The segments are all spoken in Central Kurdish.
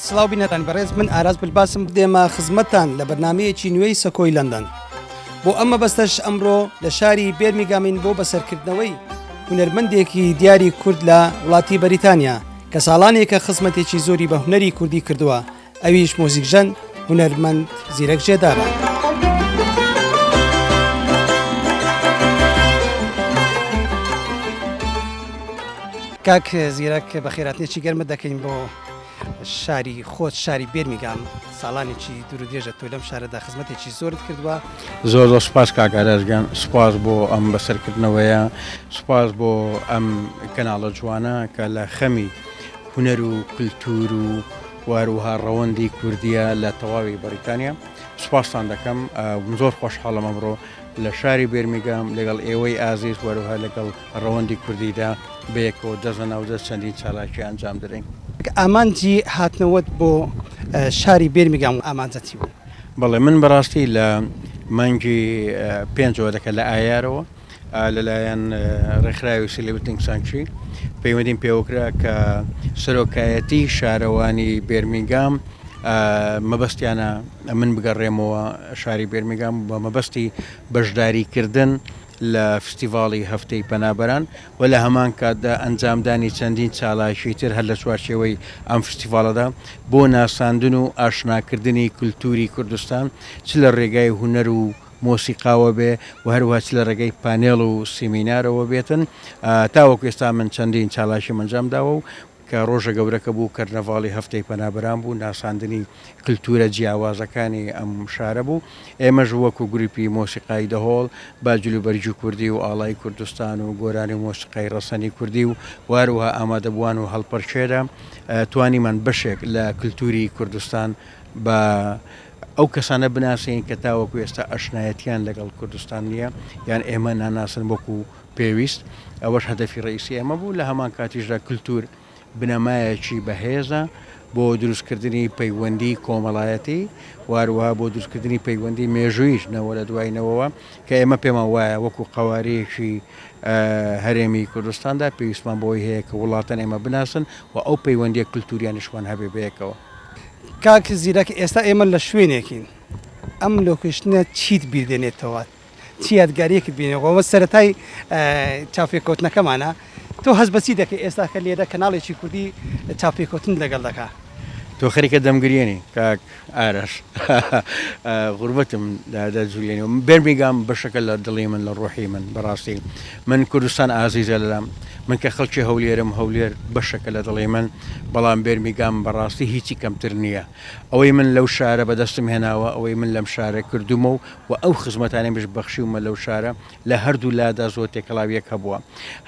سلااو بینەران بەڕێز من ئاراز بلباسم بدێمە خزمەتان لە بەرنمەیەکی نوێی سەکۆی لەندەن بۆ ئەمە بەستەش ئەمڕۆ لە شاری بێرمیگامین بۆ بەسەرکردنەوەی هونەرمەندێکی دیاری کورد لە وڵاتی بەریتانیا کە ساڵانێکە خزمەتێکی زۆری بە هونەری کوردی کردووە ئەویش مۆزیکژەن هونەرمەند زیرەک جێدارە. کاک زیرەک بە خێراتنێکی گەرمە دەکەین بۆ شاری خۆت شاری بێرمیگام ساڵانێکی دوور درێژە تۆ لەم شارەدا خزمەتێکی زۆرت کردووە زۆر زۆر سپاس کاکاراشگەن سپاس بۆ ئەم بەسەرکردنەوەیە سپاس بۆ ئەم کەناڵە جوانە کە لە خەمی هونەر و کلتور و واروها ڕەوەندی کوردیە لە تەواوی بەریتانیا سوپاستان دەکەم زۆر خۆشحاڵم ئەمڕۆ لە شاری بێرمیگام لەگەڵ ئێوەی ئازیز وەروها لەگەڵ ڕەوەندی کوردیدا بەیەکەوە دەزە ناودە چەندین چالاکی ئەنجام درەین ئامانجی هاتنەوەت بۆ شاری بێرمیگام و ئامانجەتی بوو بەڵێ من بەڕاستی لە مانگی پێنجەوە دەکە لە ئایارەوە لەلایەن ڕێکخراوی سیلبتنگ سانکچی پەیوەندیم پێوەکرا کە سەرۆکایەتی شارەوانی بێرمینگام مەبەستیانە من بگەڕێمەوە شاری بێرمینگام بە مەبەستی بەشداریکردن لە فستیڤاڵی هەفتەی پەنابەران و لە هەمان کاتدا ئەنجامدانی چەندین چالاکی تر هەر لە چوارچێوەی ئەم فستیڤاڵەدا بۆ ناساندن و ئاشناکردنی کولتوری کوردستان چ لە ڕێگای هوەر و مۆسیقاوە بێ و هەروەها چ لە ڕێگەی پانێڵ و سیمینارەوە بێتن، تاوەکو ئێستا من چەندین چالاکیم ئەنجام داوە و کە ڕۆژە گەورەکە بوو کەرنەڤاڵی هەفتەی پەنابەران بوو، ناساندنی کلتوورە جیاوازەکانی ئەم شارە بوو، ئێمەش وەکو گرووپی مۆسیقای دەهۆڵ بە جلوبەرگی کوردی و ئاڵای کوردستان و گۆرانی و مۆسیقای ڕەسەنی کوردی و و هەروەها ئامادەبووان و هەڵپەرکێرە توانیمان بەشێک لە کلتووری کوردستان بە ئەو کەسانە بناسێنین کە تاوەکو ئێستا ئەشنایەتیان لەگەڵ کوردستان نییە یان ئێمە ناناسن وەکو پێویست، ئەوەش هەدەفی ڕەئیسی ئێمە بوو، لە هەمان کاتیشدا کلتور بنەمایەکی بەهێزە بۆ دروستکردنی پەیوەندی کۆمەڵایەتی و هەروەها بۆ دروستکردنی پەیوەندی مێژووییش نەوە لە دوای نەوەوە کە ئێمە پێمان وایە وەکو قەوارەیەکی هەرێمی کوردستاندا پێویستمان بەوەی هەیە کە وڵاتان ئێمە بناسن و ئەو پەیوەندیە کلتوریانیشمان هەبێ بەیەکەوە. کاک زیرەک ئێستا ئێمە لە شوێنێکین ئەم لۆکیشنە چیت بیردێنێتەوە چی یادگاریەکت بینەوە سەتای چاپێککەوتنەکەمانە تۆ هەز بەچی دەکە ئێستاکە لێرە کەناڵێکی کوردی چاپێککەوتن لەگەڵ دەکە تۆ خەریکە دەمگرێنی کاک ئارەش غوربەتم دادا جوولێنەوە بێرمیگام بەشەکە لە دڵی من لە ڕۆحی من بەڕاستی من کوردستان ئازیزە لەلام من کە خەڵکی هەولێرم هەولێر بەشەکە لە دڵی من بەڵام بێرمیگام بەڕاستی هیچی کەمتر نییە ئەوەی من لەو شارە بەدەستم هێناوە ئەوەی من لەم شارە کردومە و و ئەو خزمەتانەی مش بەخشیومە لەو شارە لە هەردوو لادا زۆر تێکەڵاوی یەک هەبووە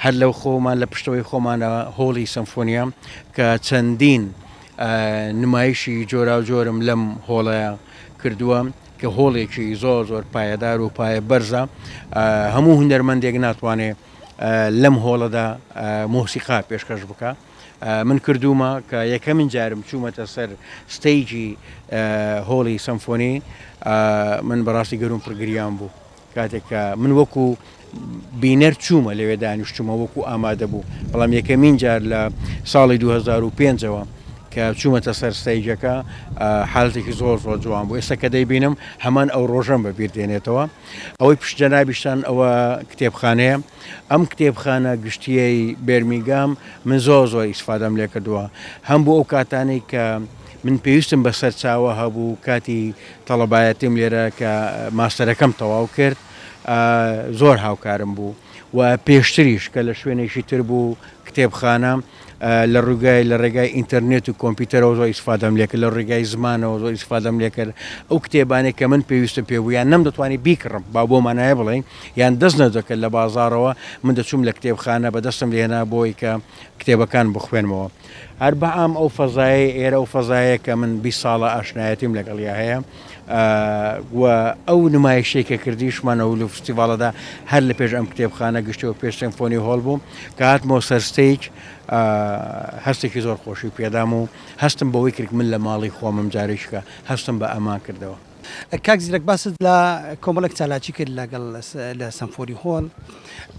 هەر لەو خۆمان لە پشتەوەی خۆمانە هۆڵی سەمفۆنیا کە چەندین نمایشی جۆراوجۆرم لەم هۆڵەیە کردووە کە هۆڵێکی زۆر زۆر پایەدار و پایە بەرزە هەموو هونەرمەندێک ناتوانێ لەم هۆڵەدا مۆسیقا پێشکەش بکە من کردومە کە یەکەمین جارم چوومەتە سەر ستەیجی هۆڵی سەمفۆنی من بەڕاستی گەروم پرگریان بوو کاتێک کە من وەکو بینەر چوومە لەوێ دانیشتومە وەکو ئامادە بوو بەڵام یەکەمین جار لە ساڵی 2005ەوە کە چوومەتە سەر ستەیجەکە حالتێکی زۆر زۆر جوان بوو ئێستا کە دەیبینم هەمان ئەو ڕۆژەم بە بیر دێنێتەوە ئەوەی پشت جەنابیشتان ئەوە کتێبخانەیە ئەم کتێبخانە گشتیەی بێرمیگام من زۆر زۆر ئیسفادەم لێ کردووە هەم بۆ ئەو کاتانەی کە من پێویستم بە سەرچاوە هەبوو کاتی تەڵەبایەتیم لێرە کە ماستەرەکەم تەواو کرد زۆر هاوکارم بوو و پێشتریش کە لە شوێنێکی تر بوو کتێبخانە لە ڕووگای لە ڕێگای ئینتەرنێت و کۆمپیوتەرەوە زۆر ئیسفادەم لێکرد لە ڕێگای زمانەوە زۆر ئیسفادەم لێکرد ئەو کتێبانێک کە من پێویستم پێ بوو یان نەم دەتوانانی بیکڕم با بۆ مانایە بڵێن یان دەست نەدەکرد لە بازارەوە من دەچووم لە کتێبخانە بە دەستم لێنا بۆی کە کتێبەکان بخوێنمەوە هەر بە ئام ئەو فەزایەی ئێرە ئەو فەزایە کە من بی ساڵە ئاشنایەتیم لەگەڵیا هەیە و ئەو نمایشەی کە کردیشمانە و لە فستیڤالەدا هەر لە پێش ئەم کتێبخانە گشتەوە پێش سمفۆنی هۆڵ بوو کە هاتمۆ سەرستەیج هەستێکی زۆر خۆشی پێدام و هەستم بەوەی کرد من لە ماڵی خۆمم جارێکیکە هەستم بە ئەمان کردەوە. کاک زیرەک باست لە کۆمەڵێک چالاکی کرد لەگەڵ لە سەمفۆری هۆڵ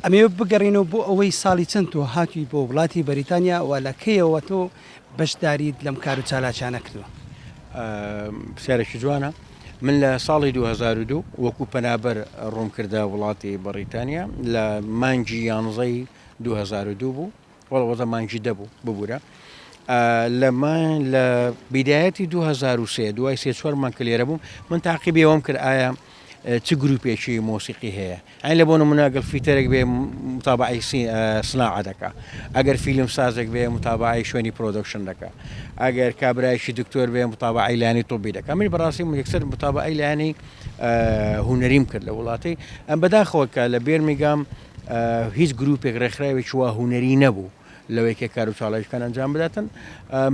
ئەمێ بگەڕینەوە بۆ ئەوەی ساڵی چەند تۆ هاتووی بۆ وڵاتی بەریتانیا و لە کەیەوە تۆ بەشداریت لەم کار و چالاکیانە کردووە پرسیارێکی جوانە من لە ساڵی 2002 وەکو پەنابەر ڕوونکردە وڵاتی بەڕیتانیا لە مانگی یانزەی 2002 بوو وەڵا وەزە مانگی دە بوو ببورە لەمان لە بیدایەتی 2023 دوای سێ چوار مانگ کە لێرە بووم من تاقیبی ئەوم کرد ئایا چ گروپێکی مۆسیقی هەیە ئەین لە بۆ مناگەل فیتەرێک بێ متابعی سناعە دەکە ئەگەر فیلم سازێک بێ متابعی شوێنی پرۆدکشن دەکە ئەگەر کابراایکی دکتۆر بێ متابعی لانی تۆبی دەکە من بەڕاستی یەکسەر متابعی لانی هوەریم کرد لە وڵاتی ئەم بەداخەوە کە لە بێرمیگام هیچ گروپێک ڕێکخراوێکی وا هونەری نەبوو لەوەی کە کار و چاڵەیشکان ئەنجام بداتن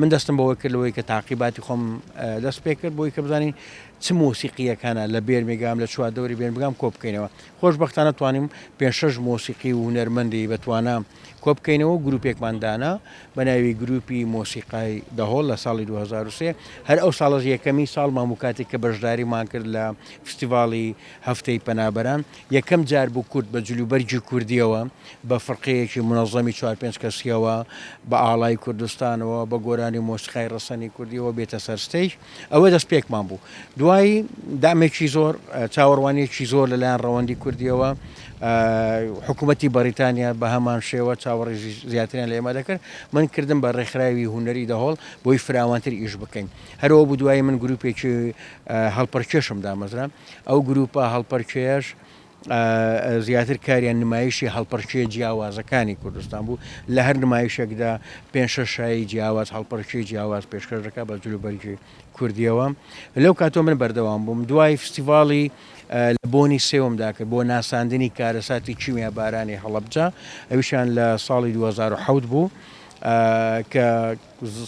من دەستم بەوە کرد لەوەی کە تاقیباتی خۆم دەست پێ کرد بۆی کە بزانین چ مۆسیقیەکانە لە بێر مێگام لە چوار دەوری بێن بگام کۆ بکەینەوە خۆشببختانە توانیم پێ شش مۆسیقی و هونەرمەندی بەتوانە کۆ بکەینەوە گروپێکماندانا بە ناوی گروپی مۆسیقای دەهۆڵ لە ساڵی 2023 هەر ئەو ساڵز یەکەمی ساڵ ماموکاتی کە بەشداریمان کرد لە فستیڤاڵی هەفتەی پەنابەران یەکەم جار بوو کورد بە جلوبەرگی کوردییەوە، بە فرقەیەکی مونەزەمی چوار پێنج کەسییەوە، بە ئاڵای کوردستانەوە، بە گۆرانی و مۆسیقای ڕەسەنی کوردییەوە بێتە سەر ستەیج. ئەوە دەستپێکمان بوو. دوایی دەعمێکی زۆر، چاوەڕوانییەکی زۆر لە لایەن ڕەوەندی کوردییەوە، حکوومەتی بەڕیتانیا بە هەمان شێوە چاوەڕێژی زیاتریان لە ئێمە دەکرد. من کردم بە ڕێکخراوی هونەری دەهۆڵ بۆی فراوانتر ئیش بکەین. هەر ئەوە بوو دوایی من گرووپێکی هەڵپەڕکێشم دامەزرا. ئەو گرووپە هەڵپەرکێیەش زیاتر کاریان نمایشی هەڵپەرکێ جیاوازەکانی کوردستان بوو لە هەر نمایشێکدا پێنج شەش شایی جیاواز هەڵپەرکێ جیاواز پێشکەش دەکات بە جلوبەرگی کوردیەوە لەو کاتۆ من بەردەوام بووم دوای فستیڤاڵی لە بۆنی سێومدا کرد بۆ ناساندنی کارەساتی کیمیا بارانی هەڵەبجە ئەویشان لە ساڵی 2010 بوو کە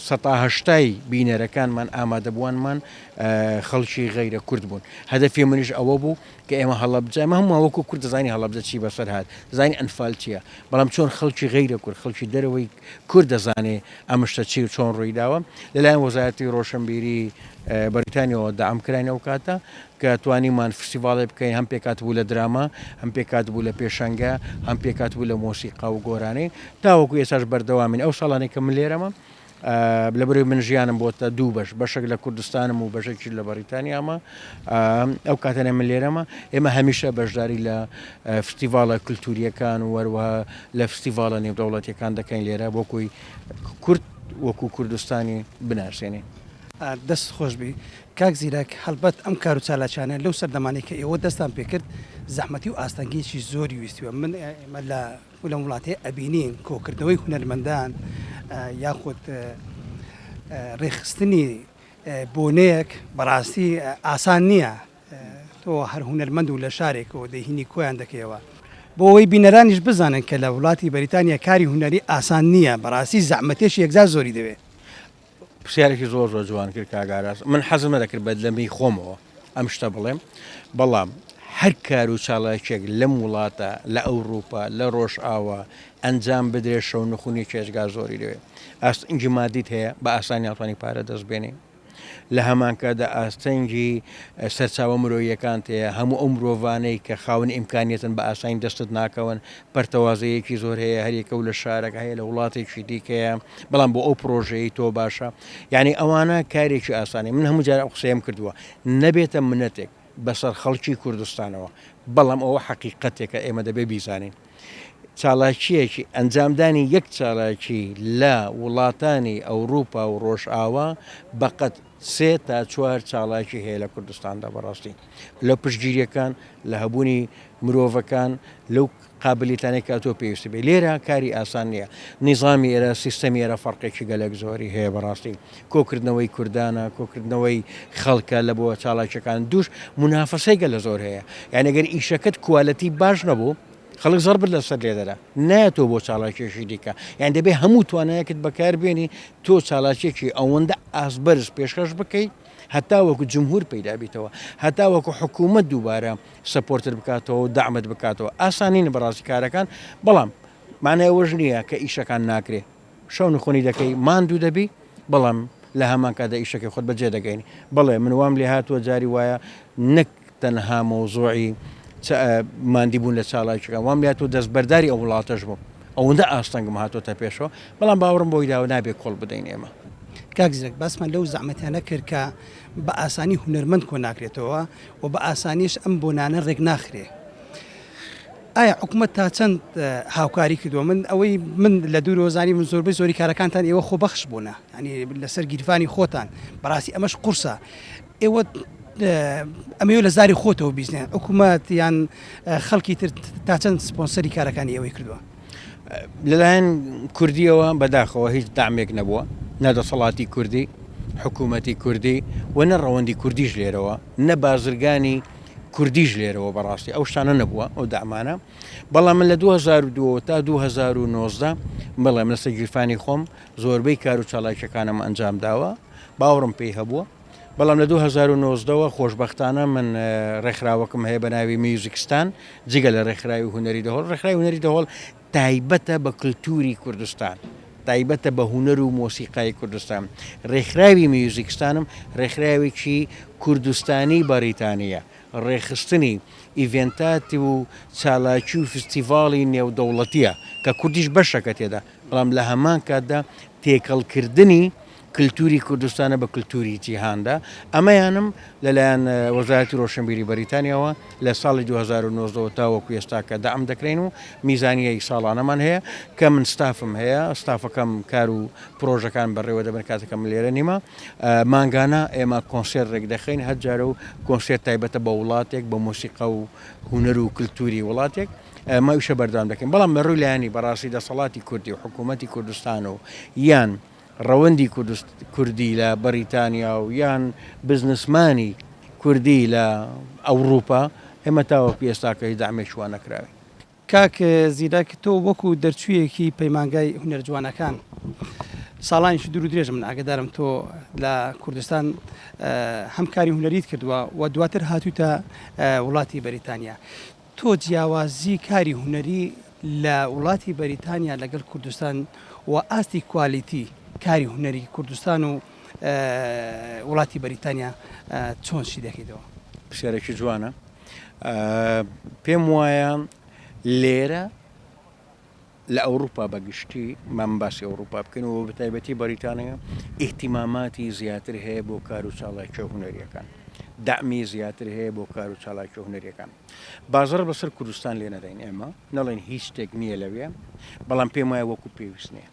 سەتا هەشتای بینەرەکانمان ئامادەبووانمان خەڵکی غەیرە کورد بوون هەدەفی منیش ئەوە بوو کە ئێمە هەڵەبجە مە هەموو وەکو کورد دەزانانی هەڵەبجە چی بەسەر هاات دەزانانی ئەنفال چییە بەڵام چۆن خەڵکی غەیرە کورد خەڵکی دەرەوەی کورد دەزانێ ئەمشتە چی و چۆن ڕوویداوە لەلایەن وەزارەتی ڕۆشنبیری بەریتانیەوە دام کراین ئەو کاتە کە توانیمان فستیڤاڵێ بکەین هەم پێکهاتبوو لە دراما، هەم پێکهاتبوو لە پێشەنگە، هەم پێکهاتبوو لە مۆسیقا و گۆرانی. تاوەکو ئێستاش بەردەوامین. ئەو ساڵانەی کە من لێرەمم، لەبەرئەوەی من ژیانم بۆتە دوو بەش، بەشێک لە کوردستانم و بەشێکیش لە بەڕیتانیامە، ئەو کاتانەی من لێرەمە، ئێمە هەمیشە بەشداری لە فستیڤاڵە کولتوورییەکان و هەروەها لە فستیڤاڵە نێودەوڵەتییەکان دەکەین لێرە بۆ کوی کورد وەکوو کوردستانی بناسێنین. دەست خۆش بی کاک زیرەک، هەڵبەت ئەم کارو چالاکیانە لەو سەردەمانەی کە ئێوە دەستتان پێ کرد زەحمەتی و ئاستەنگیەکی زۆری ویستی و من ئێمە لە لەم وڵاتەی ئەبینین کۆکردنەوەی هونەرمەندان یاخود ڕێخستنی بۆنەیەک بەڕاستی ئاسان نییە تۆ هەر هونەرمەند و لە شارێکەوە دەهینی کۆیان دەکەیەوە بۆ ئەوەی بینەرانیش بزانن کە لە وڵاتی بەریتانیا کاری هونەری ئاسان نییە بەڕاستی زەحمەتێکی یەکجار زۆری دەوێت پرسیارێکی زۆر زۆر جوان کرد کاک ئاراس من حەزم نەدەکرد بە لەمەی خۆمەوە ئەم شتە بڵێم بەڵام هەر کار و چاڵاکێک لەم وڵاتە لە ئەوروپا لە ڕۆژئاوا ئەنجام بدرێت شەو نخونی چێژگا زۆری لەوێ ئاستنگی مادیت هەیە بە ئاسانی ناتوانانی پارە دەست بێنی لە هەمانکەدا ئاستەنگی سەرچاوە مرۆیەکان تەیە هەموو ئەو مرۆڤانەی کە خاونی ئیمکانیتن بە ئاسانی دەستت ناکەون پەرتەوازەیەکی زۆر هەیە هەریەکە و لە شارەک هەیە لە وڵاتێکی دیکەیە بەڵام بۆ ئەو پرۆژەیە تۆ باشە یعنی ئەوانە کارێکی ئاسانی من هەموو جارە قسەیەم کردووە نەبێتە منەتێک بەسەر خەڵکی کوردستانەوە بەڵام ئەوە حەقیقەتێکە ئێمە دەبێ بیزانین چالاکیەکی ئەنجامدانی یەک چالاکی لە وڵاتانی ئەوروپا و ڕۆژئاوا بەقەت سێ تا چوار چالاکی هەیە لە کوردستاندا بەڕاستی لە پشتگیریەکان لە هەبوونی مرۆڤەکان لەو قابلیتانەی کە تۆ پێویست بێ لێرە کاری ئاسان نییە نیزامی ئێرە سیستەمی ئێرە فەرقێکی گەلێک زۆری هەیە بەڕاستی کۆکردنەوەی کوردانە کۆکردنەوەی خەڵکە لە بۆ چاڵاکیەکان دوش منافەسەیگە لە زۆر هەیە یانەگەر ئیشەکەت کوالەتی باش نەبوو خەڵک زەڕ بت لەسەر لێدەرە نایەتەوە بۆ چاڵاکیەکی دیکە یان دەبێ هەموو توانایەکت بەکار بێنی تۆ چاڵاکیەکی ئەوەندە ئاست بەرز پێشکەش بکەیت هەتا وەکو جمهور پیدا بیتەوە هەتا وەکو حکوومەت دووبارە سەپۆرتت بکاتەوە و دامت بکاتەوە ئاسانین بەڕاستی کارەکان بەڵام مانای ئەوەش نییە کە ئیشەکان ناکرێ شەو نخۆنی دەکەی ماندوو دەبی بەڵام لە هەمان کادا ئیشەکەی خۆت بەجێ دەگەین بڵێ من وام لێ هاتووە جاری وایە نەک تەنها مەوزوعی چ ماندی بوون لە چالاکیەکان وام لای تۆ دەستبەرداری ئەو وڵاتەش بووم ئەوەندە ئاستەنگم هاتۆتە پێشەوە بەڵام باوەڕم بۆی داوە نابێ کۆڵ بدەین ئێمە. کاک زیرەک باسمان لەو زەحمەتانە کرد کە بە ئاسانی هونەرمەند کۆ ناکرێتەوە و بە ئاسانیش ئەم بۆنانە ڕێک ناخرێ ئایا حکوومەت تا چەند هاوکاری کردووە من ئەوەی من لە دوور وەزانی من زۆربەی زۆری کارەکانتان ئێوە خۆبەخش بوونە ینی لەسەر گیرفانی خۆتان بەڕاستی ئەمەش قورسە ئێوە ئەمەوێت لە زاری خۆتەوە بیزنێن حکوومەت یان خەڵکی تر تا چەند سپۆنسەری کارەکانی ئێوەی کردووە لەلایەن کوردیەوە بەداخەوە هیچ دامێک نەبووە نەدەسەڵاتی کوردی حکوومەتی کوردی و نە ڕەوەندی کوردیش لێرەوە نە بازرگانی کوردیش لێرەوە بەڕاستی ئەو شتانە نەبووە ئەو دامانە بەڵام من لە 2002 تا 2009 بڵێم لەسەر گیرفانی خۆم زۆربەی کار و چالاکیەکانم ئەنجام داوە باوەڕم پێی هەبووە بەڵام لە دوو هەزار و نۆزدە وە خۆشبەختانە من ڕێکخراوەکم هەیە بە ناوی میوزیکستان جگە لە ڕێکخراوی هونەری دەهۆڵ ڕێکخراوی هونەری دەهۆڵ تایبەتە بە کللتوری کوردستان تایبەتە بە هونەر و مۆسیقای کوردستان ڕێکخراوی میوزیکستانم ڕێکخراوێکی کوردستانی بەریتانیە ڕێخستنی ئیڤێنتات و چالاکی و فستیڤاڵی نێودەوڵەتیە کە کوردیش بەشەکە تێدا بەڵام لە هەمان کاتدا تێکەڵکردنی کلتوری کوردستانە بە کلتوری جیهاندا، ئەمەیانم لەلایەن وەزارەتی رۆشنبیری بەریتانیاوە لە ساڵی دوو هەزار و نۆزدە وە تاوەکو ئێستاکە دەعم دەکرێین و میزانیەی ساڵانەمان هەیە کە من ستافم هەیە ستافەکەم کار و پرۆژەکان بەڕێوەدەبەن کاتەکە من لێرە نیمە مانگانە ئێمە کۆنسێرت رێکدەخەین هەر جارە و کۆنسێرت تایبەتە بە وڵاتێک بە مۆسیقا و هونەر و کلتوری وڵاتێک ئەمە ئیشە بەردەوام دەکەین بەڵام لە رووی لایەنی بەڕاستی دەسەڵاتی کوردی و حکوومەتی کوردستان و یان ڕەوەندی کوردی لە بەڕیتانیا و یان بزنسمانی کوردی لە ئەوڕوپا ئێمە تاوەکو ئێستاکە هیچ دەعمێکی وا نەکراوین. کاک زیرەک تۆ وەکو دەرچویەکی پەیمانگای هونەرە جوانەکان ساڵانێکی دوور و درێژە من ئاگەدارم تۆ لە کوردستان هەم کاری هونەریت کردووە و دواتر هاتوویتە وڵاتی بەریتانیا تۆ جیاوازی کاری هونەری لە وڵاتی بەریتانیا لەگەل کوردستان و ئاستی کوالیتی کاری هونەری کوردستان و وڵاتی بەریتانیا چۆن شی دەکەیتەوە؟ پرسیارێکی جوانە پێم وایە لێرە. لە ئەوروپا بە گشتی مام باسی ئەوروپا بکەین و بە تایبەتی بەریتانیا ئیهتیماماتی زیاتر هەیە بۆ کار و چاڵاکیە هونەریەکان دەعمی زیاتر هەیە بۆ کار و چاڵاکیە هونەریەکان بازڕ بەسەر کوردستان لێ نەدەین ئێمە نەڵێن هیچ شتێک نییە لەوێ بەڵام پێم وایە وەکو پێویست نییە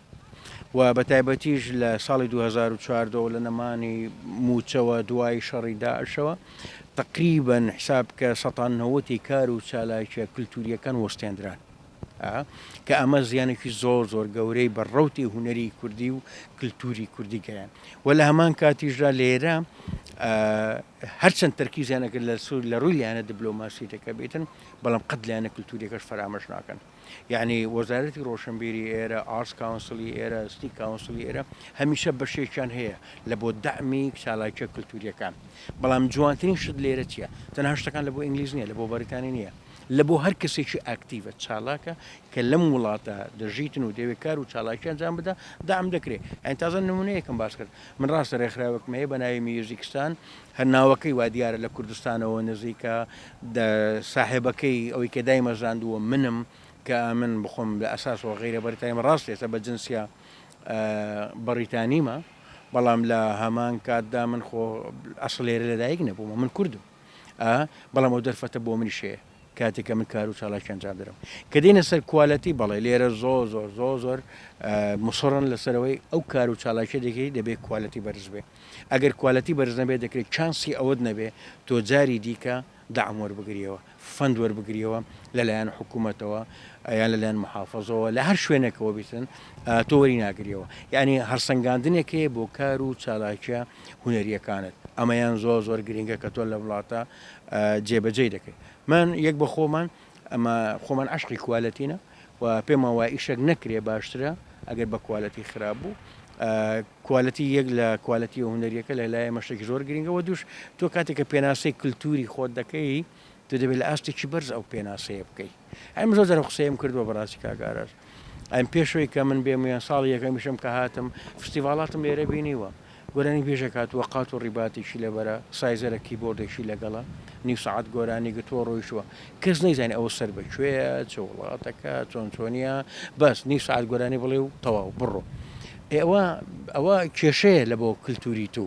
و بە تایبەتیش لە ساڵی 2014 لە نەمانی موچەوە دوای شەڕی داعشەوە تقریبن حساب کە سەتان نەوەتی کار و چالاکیە کللتوریەکان وەستێنران ە، کە ئەمە زیانێکی زۆر زۆر گەورەی بە ڕەوتی هونەری کوردی و کلتوری کوردی گەیان و لە هەمان کاتیشدا لێرە هەرچەند تەرکیزیانەکە لە سوور لە ڕووی لایەنە دبلۆماسیەکە بێتن بەڵام قەت لایەنە کللتوریەکەش فەرامەش ناکەن یعنی وەزارەتی ڕۆشنبیری ئێرە ئارس کاونسلی ئێرە ستی کاونسلی ئێرە هەمیشە بەشێکیان هەیە لە بۆ دەمی چالاکە کللتوریەکان بەڵام جوانترین شت لێرە چیە تەنها شتەکان لە بۆ ئینگلیز نیە لە بۆ بەریتانی نیە لە بۆ هەر کەسێکی ئاکتیڤە، چالاکە، کە لەم وڵاتە دەژیتن و دەیەوێ کار و چالاکی ئەنجام بدا، دەعم دەکرێ. یانی تازە نموونەیەکم باس کرد. من ڕاستە رێکخراوێکم هەیە بە ناوی میوزیکستان، هەر ناوەکەی وا دیارە لە کوردستانەوە نزیکە، ساحێبەکەی، ئەوەی کە دایمەزراندووە منم، کە ئەمن بخۆم لە ئەساسەوە غەیرە بەریتانیمە، ڕاست ئێستا بە جنسیە بەڕیتانیمە، بەڵام لە هەمان کاتدا من خۆ ئەسڵ لێرە لە دایک نەبوومە، من کوردم. ئا بەڵام ئەو دەرفەتە بۆ منیش هەیە کاتێک کە من کار و چالاکی ئەنجام دەدەم کە دێنە سەر کوالەتی بەڵێ لێرە زۆر زۆر زۆر زۆر مسڕن لەسەرەوەی ئەو کار و چالاکی دەکەی دەبێت کوالەتی بەرز بێ ئەگەر کوالەتی بەرز نەبێ دەکرێت چانسی ئەوەت نەبێ تۆ جاری دیکە داعم وەربگریەوە فەند وەربگریەوە لەلایەن حکوومەتەوە یان لەلایەن محافظەوە لە هەر شوێنێکەوە بیتن تۆوەری ناگریەوە یعنی هەرسەنگاندنێکەیە بۆ کار و چالاکیە هونەریەکانت ئەمەیان زۆر زۆر گرنگە کە تۆ لە وڵاتە جێبەجێی دەکەیت من یەک بە خۆمان ئەمە خۆمان عشقی کوالەتینە و پێمان وای ئیشەک نەکرێ باشترە ئەگەر بە کوالەتی خراپ بوو کوالەتی یەک لە کوالەتی و هونەریەکە لە لای مەشتێک زۆر گرنگەوە دوش تۆ کاتێککە پێناسەی کللتوری خۆت دەکەی تو دەبێت لە ئاستێکی بەرز ئەو پێناسەیە بکەیت ئەم زۆر جارم قسەیم کردووە بەڕاستی کاک ئاراس ئەم پێشەوەی کە من بێم یان ساڵی یەکەمیشم کە هاتم فستیڤاڵاتم لێرە بینیوە گۆرانی بێژە کاتووە قات و ڕیباتێکی لەبەرە سایزەرە کیبۆردێکی لەگەڵە نیو سعات گۆرانی گتووە ڕۆیشتووە کەس نەیزانانی ئەوە سەر بەکوێیە چ وڵاتەکە چۆن چۆنیە بەس نیو سعات گۆرانی بڵێ و تەواو بڕۆ ئێوە ئەوە کێشەیە لە بۆ کللتوری تو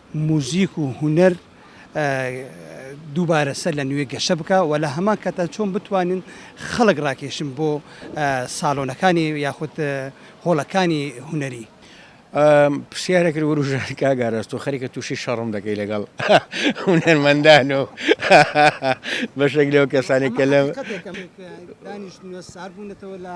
موزیک و هونەر دووبارە سەر لە نوێ گەشە بکا و لە هەمان کاتدا چۆن بتوانین خەڵک ڕاکێشن بۆ ساڵۆنەکانی یاخود هۆڵەکانی هونەری. پرسیارێک وروژاند کاک ئاراس تۆ خەریکە تووشی شەڕم دەکەی لەگەڵ هونەرمەندان و بەشێک لەو کەسانەی کە لەم. حەقیقەتێکە دانیشتوونە سارد بوونەتەوە لە.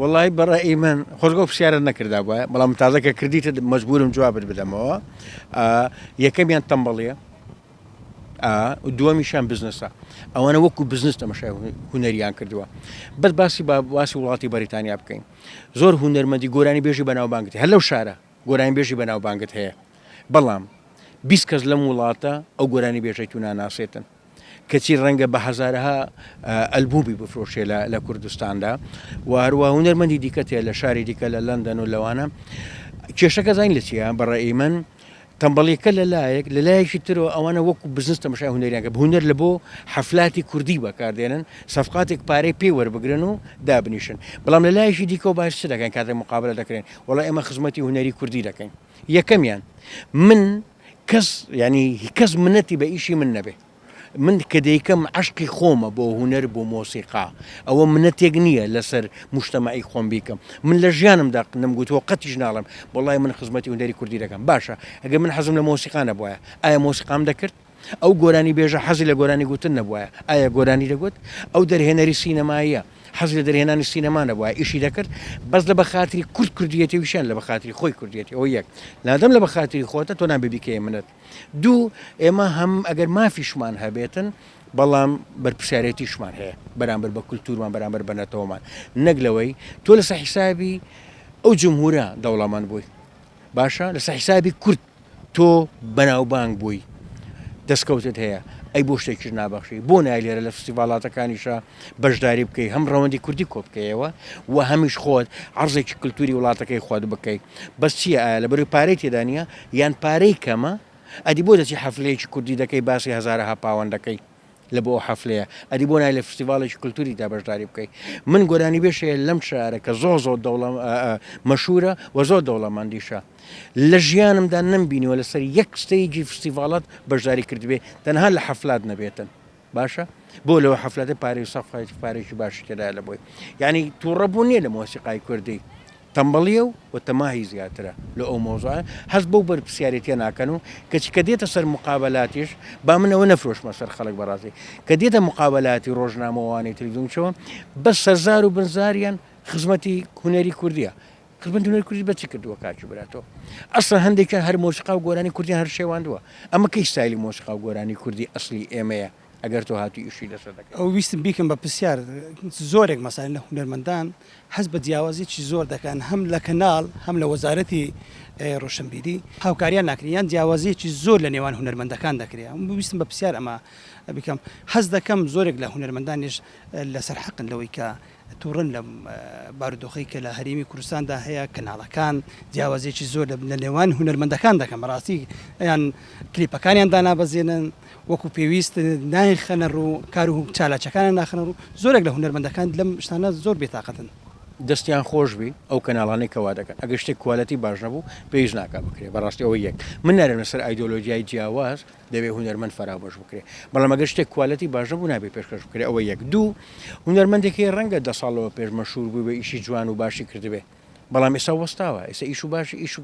وەڵایی بەڕای من خۆزگە ئەو پرسیارەت نەکردابوایە، بەڵام من تازە کە کردیتت مەجبورم جوابت بدەمەوە. ئا، یەکەمیان تەمبەڵییە، ئا، و دووەمیشیان بزنسە. ئەوانە وەکوو بزنس تەمەشای هو- هونەریان کردووە. بەس باسی با باسی وڵاتی بەریتانیا بکەین. زۆر هونەرمەندی گۆرانیبێژی بەناوبانگت هەیە، هەر لەو شارە گۆرانیبێژی بەناوبانگت هەیە، بەڵام بیست کەس لەم وڵاتە ئەو گۆرانیبێژەی تو ناناسێتن. کەچی ڕەنگە بە هەزارەها ئەلبومی بفرۆشێ لە کوردستاندا و هەروە هونەرمەندی دیکە تێ لە شاری دیکە لە لەندەن و لەوانە کێشەکە زین لە چیە بەڕێی من تەمبەڵیکە لە لایەک لە لایەکی ترەوە ئەوانە وەکو بزنس تەمەشای هونەریانگە هونەر لە بۆ حەفلاتی کوردی بەکاردێنن سەفقاتێک پارەی پێی وەربگرن و دابنیشن بەڵام لە لایەکی دیکەەوە باش دەکەن کاتێک مقابلە دەکرێن وڵا ئێمە خزمەتی هونەری کوردی دەکەین یەکەمیان من کەس یانی کەس منەتی بە ئیشی من نەبێ من کە دەیکەم عشقی خۆمە بۆ هوەر بۆ مۆسیقا ئەوە منەتێک نییە لەسەر مشتمەعی خۆم بیکەم من لە ژیانم دەق نم گوتووە قەتیش ناڵم بەڵی من خزمەتی هوەری کوردی دەکەم باشە ئەگە من حەزم لە مۆسیقانە بواە ئایا مۆسیقام دەکرد ئەو گۆرانی بێژە حەزی لە گۆرانی گوتن نەبواە ئایا گۆرانی دەگوت ئەو دەرهێنەری سینەماییە حەز لە دەرهێنانی سینەما نەبوایە ئیشی دەکرد بەس لە بەخاتری کورد کوردیەتی وشیان لە بەخاتری خۆی کوردیەتی ئەو یەک لادەم لە بەخاتری خۆتە تۆ نان ببیکەی منت دوو ئێمە هەم ئەگەر مافیشمان هەبێتن بەڵام بەرپسیارەتیشمان هەیە بەرامبەر بە کولتورمان بەرامبەر بە نەتەوەمان نەک لەوەی تۆ لەسە حیسابی ئەو جمهورە دەوڵەمەند بووی باشە لەسە حیسابی کورد تۆ بەناوبانگ بووی دەستکەوتت هەیە ئەی بۆ شتێکیش نابەخشی بۆ نای لێرە لە فستیڤالاتەکانیشە بەشداری بکەی هەم ڕەوەندی کوردی کۆبکەیەوە و هەمیش خۆت عرضێکی کللتوری وڵاتەکەی خۆت بکەی بەس چیە ئایا لە بەروی پارەی تێدانە یان پارەی کەمە ئەدی بۆ دەچی حەفلەیەکی کوردی دەکەی باسی هزارەها پاوەندەکەی لە بۆ ئەو حەفلەیە ئەدی بۆ نای لە فستیڤاڵێکی کلتوری دا بەشداری بکەی من گۆرانی بێش هەیە لەم شارە کە زۆ زۆ دەوڵە مەشورە وە زۆر دەوڵەمەندیشە لە ژیانمدا نەمبینیوە لەسەر یەک ستەیجی فستیڤاڵات بەشداری کردبێ تەنها لە حەفلات نەبێتن باشە بۆ لەوە حەفلەتە پارێ سەفایەتی پارێکی باشی تێدایە لە بۆی یعنی تووڕە بوو نییە لە مۆسیقای کوردی تەمبەڵیە و و تەماهی زیاترە لۆ ئەو مەوزوعە هەست بەو بەرپسیارێتیە ناکەن و کەچی کە دێتە سەر موقابەلاتیش با من ئەوە نەفرۆشمە سەر خەڵک بەڕاستی کە دێتە موقابەلاتی ڕۆژنامە وانەی تلویزیون چۆ بەس سەرزار و بنزاریان خزمەتی هونەری کوردیە خزمەتی هونەری کوردی بەچی کردووە کاکی برا تۆ ئەسڵەن هەندێکیان هەر مۆسیقا و گۆرانی کوردیان هەر شێواندووە ئەمە کەی ستایلی مۆسیقا و گۆرانی کوردی ئەسڵی ئێمەیە ئەگەر تۆ هاتووی ئیشی لەسەر دەکەی. ئەو ویستم بیکەم بە پرسیار زۆرێک مەسەلەن لە هونەرمەندان هەست بە جیاوازیی زۆر دەکەن هەم لە کەناڵ هەم لە وەزارەتی ڕۆشنبیری هاوکاریان ناکرێ یان جیاوازیی زۆر لە نێوان هونەرمەندەکان دەکرێ ئەم ویستم بە پرسیار ئەمە بیکەم هەست دەکەم زۆرێک لە هونەرمەندانیش لەسەر حەقن لەوەی کە توڕەن لەم بارودۆخەی کە لە هەرێمی کوردستاندا هەیە کەناڵەکان جیاوازیەکی زۆر لە نێوان هونەرمەندەکان دەکەن بەڕاستی ئەیان کلیپەکانیان دانابەزێنن وەکو پێویست نایخەنە ڕوو کار و چالاچەکانە ناخنە ڕوو زۆرێک لە هونەرمەندەکان لەم شتانە زۆر بێتاقەتن دەستیان خۆش بی ئەو کەناڵانەی کەوا دەکەن ئەگە شتێک کوالەتی باش نەبوو پێویست ناکە بکرێ بەڕاستی ئەوە یەک من نارێنە سەر ئایدۆلۆژیای جیاواز دەبێت هونەرمەند فەرابەش بکرێت بەڵام ئەگەر شتێک کوالەتی باش نەبوو نابێت پێشکەش بکرێت ئەوە یەک دوو هونەرمەندێک هەیە ڕەنگە دە ساڵەوە پێش مەشهور بووبێ ئیشی جوان و باشی کردبێ بەڵام ئێستا وەستاوە ئێستا ئیش و باش ئیش و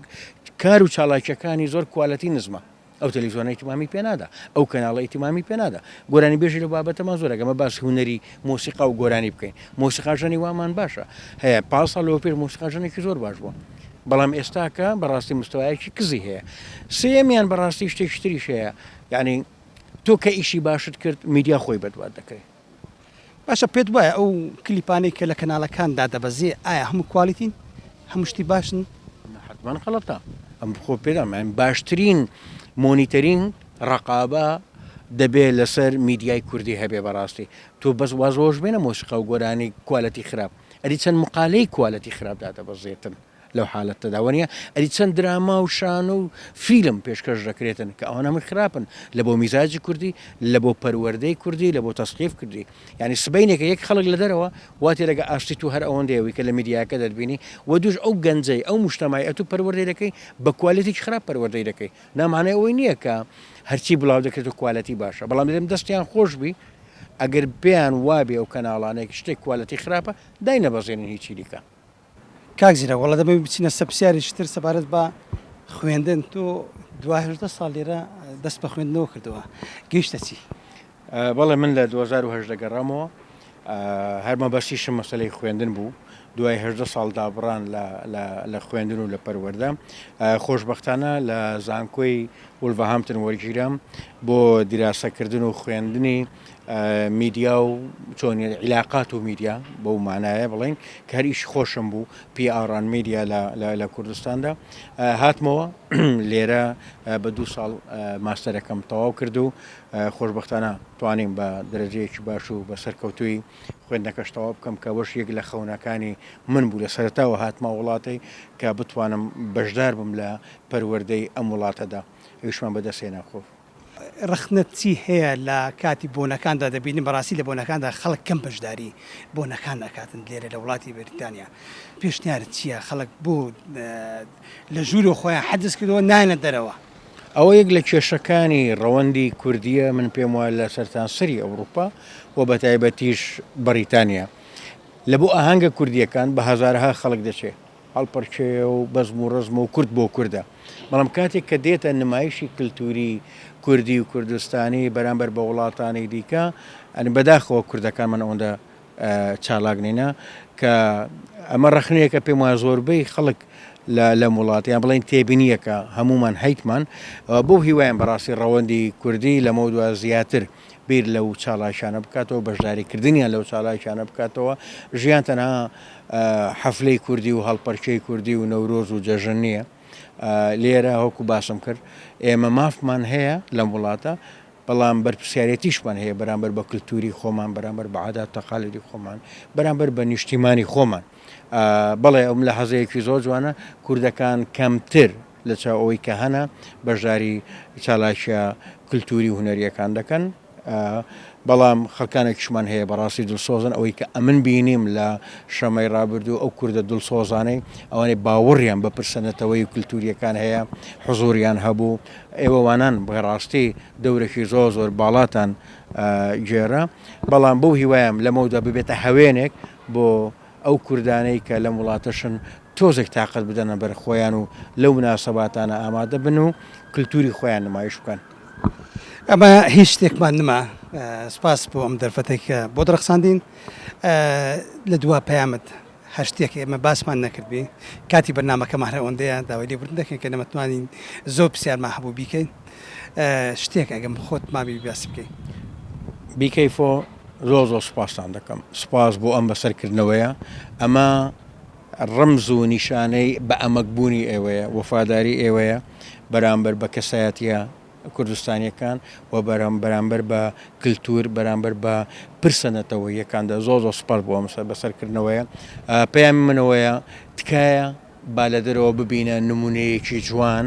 کار و چالاکیەکانی زۆر کوالەتی نزمە ئەو تەلەویزیۆنە ئیتمامی پێنادا ئەو کەناڵە ئیتمامی پێنادا گۆرانی بێژی لە بابەتەمان زۆر ئەگەمە باس هونەری مۆسیقا و گۆرانی بکەین مۆسیقاژەنی وامان باشە هەیە پاڵ ساڵەوە پێش مۆسیقاژەنێکی زۆر باش بووە بەرێک. بەڵام ئێستاکە بەڕاستی مستەوایەکی کزی هەیە. سێیەمیان بەڕاستی شتێکی تریش هەیە، یانی تۆ کە ئیشی باشت کرد میدیا خۆی بەدوات دەکرێ. باشە پێت وایە ئەو کلیپانەی کە لە کەنالەکان دادەبەزێ ئایا هەموو کوالیتین؟ هەموو شتی باشن؟ نە حەتمەن غەڵەتە. ئەم خۆ پێ دەڵێم باشترین مۆنیتەرین ڕەقابە دەبێ لەسەر میدیای کوردی هەبێ بەڕاستی. تۆ بەس واز وەوەش بێنە مۆسیقا و گۆرانی کوالێتی خراپ. ئەری چەند مقالەی کوالێتی خراپ دادەبەزێتن لەو حالەتەدا وەنیە ئەری چەند دراما و شانۆ و فیلم پێشکەش دەکرێتن کە ئەوانە من خراپن لە بۆ میزاجی کوردی لە بۆ پەروەردەی کوردی لە بۆ تەسقیف کردی ینی سبینێکە یەک خەڵک لە دەرەوە واتی لەگە ئاشتی تو هەر ئەوەندەیەوەی کە لە میدیاکە دەربینی و دوش ئەو گەنجەی ئەو مشتمای ئەتو پەروەردەی دەکەی بە کوالێتی خراپ پەروەردەی دەکەی نامانای ئەوەی نییە کە هەرچی بڵاو دەکرێت و کوالەتی باشە بەڵام دەم دەستیان خۆشببی ئەگەر پێیان وابێ ئەو کەناڵانەی کە شتێک کوالێتی خراپە داینەبەزێنن هیچی دیکە. کاک زیرەک وەڵا دەمەوێت بچینە سەر پرسیارێکی تر سەبارەت بە خوێندن تۆ دوا هەژدە ساڵ لێرە دەست بە خوێندنەوە کردووە گەیشتە چی؟ بەڵێ من لە دوو هەزار و هەژدە گەڕامەوە هەر مەبەستیشم مەسەلەی خوێندن بوو دوای هەژدە ساڵ دابڕان لە خوێندن و لە پەروەردە خۆشببختانە لە زانکۆی وولڤەهامپتن وەرگیرام بۆ دیراسەکردن و خوێندنی میدیا و چۆنی عیلاقات و میدیا بەو مانایە بڵین کە هەر ئیش خۆشم بوو پیئاڕان میدیا لە کوردستاندا هاتمەوە لێرە بە دوو ساڵ ماستەرەکەم تەواو کرد و خۆشببختانە توانیم بە درەجەیەکی باش و بە سەرکەوتوی خوێندنەکەش تەواو بکەم کە بەش یەک لە خەونەکانی من بوو لە سەرتاوە هاتمە وڵاتی کە بتوانم بەشدار بم لە پەروەردەی ئەم وڵاتەدا ئەویشمان بەدەستهێنا خۆ. ڕەخنەت چی هەیە لە کاتی بۆنەکاندا دەبینین بەڕاستی لە بۆنەکاندا خەڵک کەم بەشداری بۆنەکان ئەکاتن لێرە لە وڵاتی بەریتانیا پێشنیارت چیە خەڵک بۆ لە ژوورۆ خۆیان حەجز کردەوە نایەنە دەرەوە ئەوە یەک لە کێشەکانی ڕەوەندی کوردیە من پێم وایە لە سەرتانسەری ئەوروپا و بە تایبەتیش بەریتانیا لە بۆ ئاهەنگە کوردیەکان بە هەزارها خەڵک دەچێت هەڵپەرکێ و بەزم و ڕەزمە و کورد بۆ کوردە، بەڵام کاتێک کە دێتە نمایشی کلتوری کوردی و کوردستانی بەرامبەر بە وڵاتانی دیکە، یانی بەداخەوە کوردەکانمان ئەوەندە چالاک نینە، کە ئەمە ڕەخنەیەکە پێم وایە زۆربەی خەڵک لەم وڵات یان بڵێن تێبینیەکە هەمومان هەیتمان، بەو هیوایەم بەڕاستی ڕەوەندی کوردی لەمەو دوا زیاتر بیر لەو چاڵاکیانە بکاتەوە بەشداری کردنیان لەو چاڵاکیانە بکاتەوە ژیان تەنها حەفلەی کوردی و هەڵپەرکەی کوردی و نەورۆز و جەژن نییە لێرە هەکو باسم کرد ئێمە مافمان هەیە لەم وڵاتە بەڵام بەرپسیارەتیشمان هەیە بەرامبەر بە کللتوری خۆمان بەرامبەر بە عادات تەقالدی خۆمان بەرامبەر بە نیشتیمانی خۆمان بەڵێ ئەم لە حەزەیەکی زۆر جوانە کوردەکان کەمتر لە چاو ئەوەی کە هەنە بەشداری چالاکیە کلتوری و هونەریەکان دەکەن بەڵام خەکانێکشمان هەیە بەڕاستی دڵسۆزن ئەوەی کە ئەمن بینیم لە شەمەی ڕابردوو ئەو کوردە دڵسۆزانەی ئەوانەی باوەڕیان بە پرسەنەتەوەی و کللتوریەکان هەیە حزوریان هەبوو ئێوەوانان بەڕاستی دەورەکی زۆر زۆر باڵاتان گێرە بەڵام بەو هیوایم لەمەودا ببێتە هەوێنێک بۆ ئەو کوردانەی کە لەم وڵاتەشن تۆزێک تاقەت بدەنە بەر خۆیان و لەو مناسەباتانە ئامادە بن و کلتوری خۆیان نمایش بکەن. ئەمە هیچ شتێکمان نما سپاس بۆ ئەم دەرفەتێک کە بۆت ڕەخساندین لە دوا پەیامت هەر شتێک ئێمە باسمان نەکردبی کاتی بەرنمەکەمان هەر ئەوەندەیە داوای لێبوردن دەکەین کە نەمەتوانین زۆر پرسیارمان هەبوو بیکەین شتێک ئەگەم خۆت مابی باسی بکەی. Be careful. زۆر زۆر سوپاستان دەکەم سوپاس بۆ ئەم بەسەرکردنەوەیە ئەمە ڕمز و نیشانەی بە ئەمەکبوونی ئێوەیە وەفاداری ئێوەیە بەرامبەر بە کەسایەتە کوردستانیەکان و بەرام بەرامبەر بە کللتور بەرامبەر بە پرسە نەتەوە یەکاندا زۆ زۆ سوپاس بۆ ئەمسەر بەسەرکردنەوەیە پەیامی منەوەیە تکایە با لە دەرەوە ببینە نمونەیەکی جوان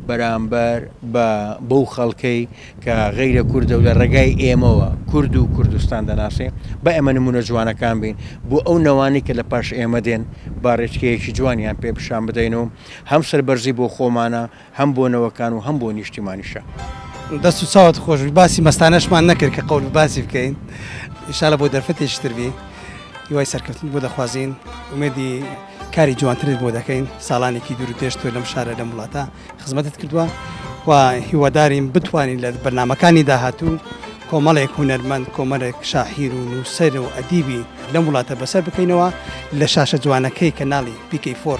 بەرامبەر بە بەو خەڵکەی کە غەیرە کوردە و لە ڕێگای ئێمەوە کورد و کوردستان دەناسێ بە ئێمە نمونە جوانەکان بین بۆ ئەو نەوانی کە لە پاش ئێمە دێن با ڕێچکەیەکی جوانیان پێ پیشان بدەین و هەم سەربەرزی بۆ خۆمانە هەم بۆ نەوەکان و هەم بۆ نیشتیمانیشە. دەست و چاوت خۆش بی باسی مەستانەشمان نەکرد کە قەول باسی بکەین انشاللە بۆ دەرفەتێکی تر بی هیوای سەرکەوتنت بۆ دەخوازین ئومێدی کاری جوانترت بۆ دەکەین ساڵانێکی دوور و درێژ تۆ لەم شارە لەم وڵاتە خزمەتت کردووە و هیوادارین بتوانین لە بەرنمەکانی داهاتوو کۆمەڵێک هونەرمەند کۆمەلێک شاحیر و نووسەر و ئەدیبی لەم وڵاتە بەسەر بکەینەوە لە شاشە جوانەکەی کەناڵی پیکەی فۆر